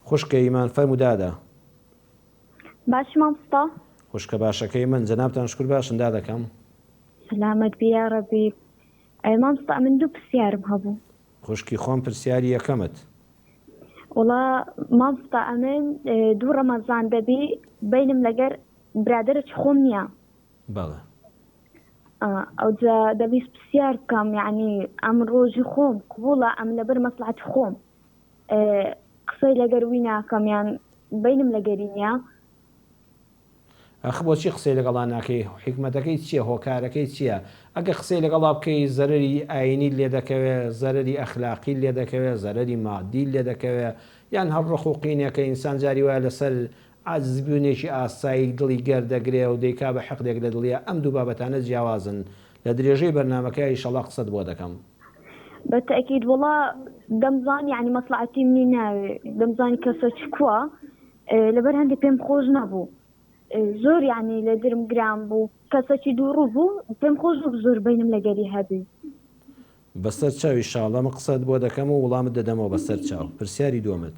خوشکە یمان فەرموو دادە. باشی ماموستا. خوشکە باشەکەی من جەنابتان شکور باشن دادەکەم. سەلامەت بی یارەبی ماموستا ئەمن دوو پرسیارم هەبوو. خوشکی خۆم پرسیاری یەکەمت. وەڵا ماموستا ئەمن دوو ڕەمەزان دەبی بینم لەگەر برادەرەچ خۆم نییە. بەڵێ. ئەوجا دەبیست پرسیار بکەم یانی ئەم ڕۆژی خۆم قبوڵە ئەم لەبەر مەسڵەتی خۆم. قسەی لەگەر وی ناکەم یان بەینم لەگەری نیە. ئەخ بۆچی قسەی لەگەڵا ناکەی حیکمەتەکەی چیە هۆکارەکەی چیە ئەگەر قسەی لەگەڵا بکەی زەرەری ئاینیت لێ دەکەوێ زەرەری ئەخلاقیت لێ دەکەوێ زەرەری مادیت لێ دەکەوێ یان هەر ڕق و قینێکە ئینسان جاری وایە لەسەر عاجزبوونێکی ئاسایی دڵی گەر دەگرێ و دەیکا بە حقدێک لە دڵیا ئەم دوو بابەتانە جیاوازن لە درێژەی بەرنامەکە ئیشەڵا قسەت بۆ دەکەم. بە تەئکید وەڵا دەمزانی یانی مەسڵەعەتی منی ناوێ دەمزانی کەسە چ کوا لەبەر هەندێ پێم خۆش نەبوو زۆر یانی لە درم گران بوو کەسەکی دووڕوو بوو پێم خۆش نەبوو زۆر بەینم لەگەری هەبی. بەسەر چاو ئیشاڵڵە من قسەت بۆ دەکەم و وڵامت دەدەمەوە بەسەر چاو پرسیاری دوەمت.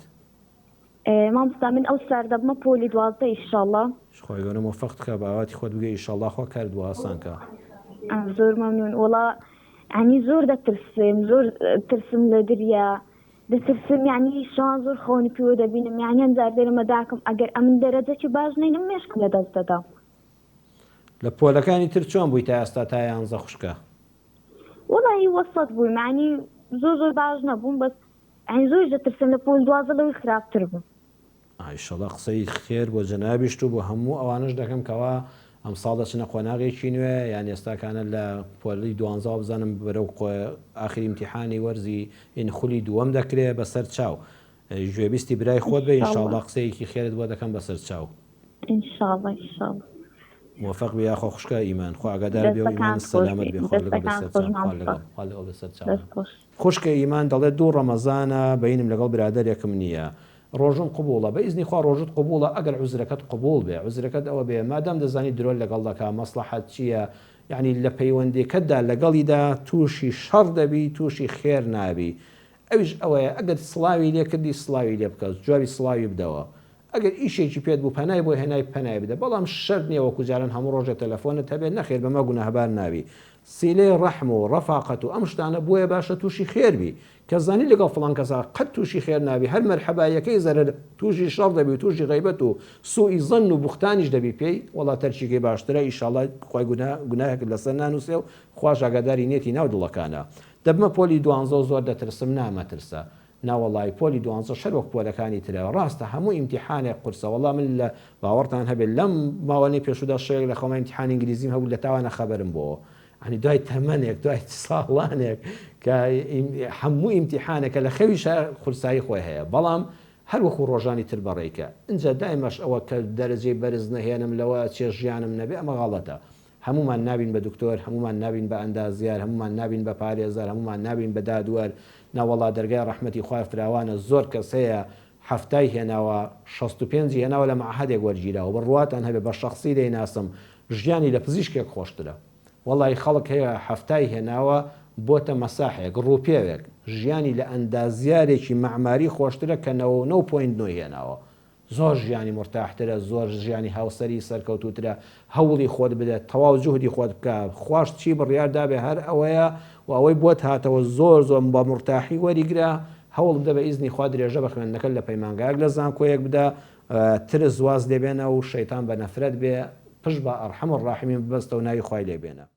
مامۆستا من ئەو سار دەبمە پۆلی دوازدە ئیشاڵڵە. خوای گەورە مۆفەقت کا بە ئاواتی خۆت بگەی ئیشاڵڵە خوا کارت بۆ ئاسان کا. زۆر مەمنون وەڵا یانی زۆر دەترسم زۆر ترسم لە دریا دەترسم یانی شان زۆر خەونی پیوە دەبینم یانی ئەم جار دێرە مەداکم ئەگەر ئەمن دەرەجەکی باش نینم مێشکم لە دەست دەدەم. لە پۆلەکانی تر چۆن بووی تا ئێستا تا یانزە خوشکە؟ وەڵایی وەسەت بووی معنی زۆر زۆر باش نەبووم بەس ئەین زۆر دەترسم لە پۆل دوازە لەوەی خراپتر بوو. ئیشەڵا قسەی خێر بۆ جەنابیشت و بۆ هەموو ئەوانەش دەکەم کەوا ئەمساڵ دەچنە قۆناغێکی نوێ یان ئێستاکانە لە پۆلی دوانزەوە بزانم بەرەو ئاخری ئیمتیحانی وەرزی ین خولی دووەم دەکرێ بەسەر چاو گوێبیستی برای خۆت بە انشاللە قسەیەکی خێرت بۆ دەکەم بەسەر چاو. انشاللە انشاللە. موفق بی یاخوا خوشکە ئیمان خوا ئاگادار بێ و ئیمانت سەلامەت بێ خوا لەگەڵ بێ سەرچاو خوا لەگەڵ خوا لەگەڵ بێ سەرچاو. خوشکە ئیمان دەڵێت دوو ڕەمەزانە بەینم لەگەڵ برادەرێکم نییە ڕۆژم قبوڵە بە ئیزنی خوا ڕۆژت قبوڵە ئەگەر عوزرەکەت قبوڵ بێ عوزرەکەت ئەوە بێ مادام دەزانی درۆت لەگەڵ دەکا مەسڵەحەت چییە یەعنی لە پەیوەندیکەتدا لەگەڵیدا تووشی شەڕ دەبی تووشی خێر نابی ئەویش ئەوەیە ئەگەر سڵاوی لێ کردی سڵاوی لێ بکە جوابی سڵاوی بدەوە ئەگەر ئیشێکی پێت بوو پەنای بۆ هێنای پەنای بدە بەڵام شەرت نیە وەکو جاران هەموو ڕۆژێ تەلەفۆنت هەبێ نەخێر بەمە گوناهبار نابی سیلەی ڕەحم و ڕەفاقەت و ئەم شتانە بۆیە باشە توشی خێر بی کە زانی لەگەڵ فڵان کەسا قەت توشی خێر نابی هەر مەرحەباییەکەی زەرەر توشی شەڕ دەبی و توشی غەیبەت و سوئی زەن و بوختانیش دەبی پێی وەڵا تەرکیکەی باشترە ئیشاڵا خوای گوناهەکەت لەسەر نانوسێ و خواش ئاگاداری نیەتی ناو دڵەکانە دەبمە پۆلی دوانزە و زۆر دەترسم نا مەترسە. ناوەڵای پۆلی دوانزەش هەر وەک پۆلەکانی ترە ڕاستە هەموو ئیمتیحانێک قورسە وەڵا من لە باوەڕتان هەبێت لەم ماوەنەی پێشوودا شەوێک لە خەوما ئیمتیحانی ئینگلیزیم هەبوو لە تاوانە خەبەرم بۆوە عنی دوای تەمەنێک دوای ساڵانێک کە هەموو ئیمتیحانەکە لە خەویشە قورسایی خۆی هەیە بەڵام هەر وەکو ڕۆژانی تر بەڕێکە ئینجا دایمەش ئەوە کە دەرەجەی بەرز نەهێنم لەوە چێ ژیانم نەبێ ئەمە غەڵەتە هەموومان نابین بە دکتۆر، هەموومان نابین بە ئەندازیار، هەموومان نابین بە پارێزەر، هەموومان نابین بە دادوەر، ناوەڵا دەرگای ڕەحمەتی خوای فراوانە، زۆر کەس هەیە حەفتای هێناوە شەست و پێنجی هێناوە لە مەعهەدێک وەرگیراوە، بڕواتان هەبێ بە شەخسی دەیناسم ژیانی لە پزیشکێک خۆشترە، وەڵایی خەڵک هەیە حەفتای هێناوە بۆتە مەساحێک، ڕووپێوێک، ژیانی لە ئەندازیارێکی مەعماری خۆشترە کە نەوە و نەو پۆینت نۆی هێناوە، زۆر ژیانی مورتاح ترە زۆر ژیانی هاوسەری سەرکەوتوترە هەوڵی خۆت بدە تەواو جوهدی خۆت بکە خواش چی بڕیار دابێ هەر ئەوەیە وە ئەوەی بۆت هاتەوە زۆر زۆر بە مورتاحی وەریگرە هەوڵ بدە بە ئیزنی خوا درێژە بە خوێندنەکەت لە پەیمانگایەک لە زانکۆیەک بدە ترس واز لێ بێنە و شەیتان بە نەفرەت بێ پشت بە ئەڕحەم الڕاحمین ببەستەوە ناوی خوای لێ بێنە.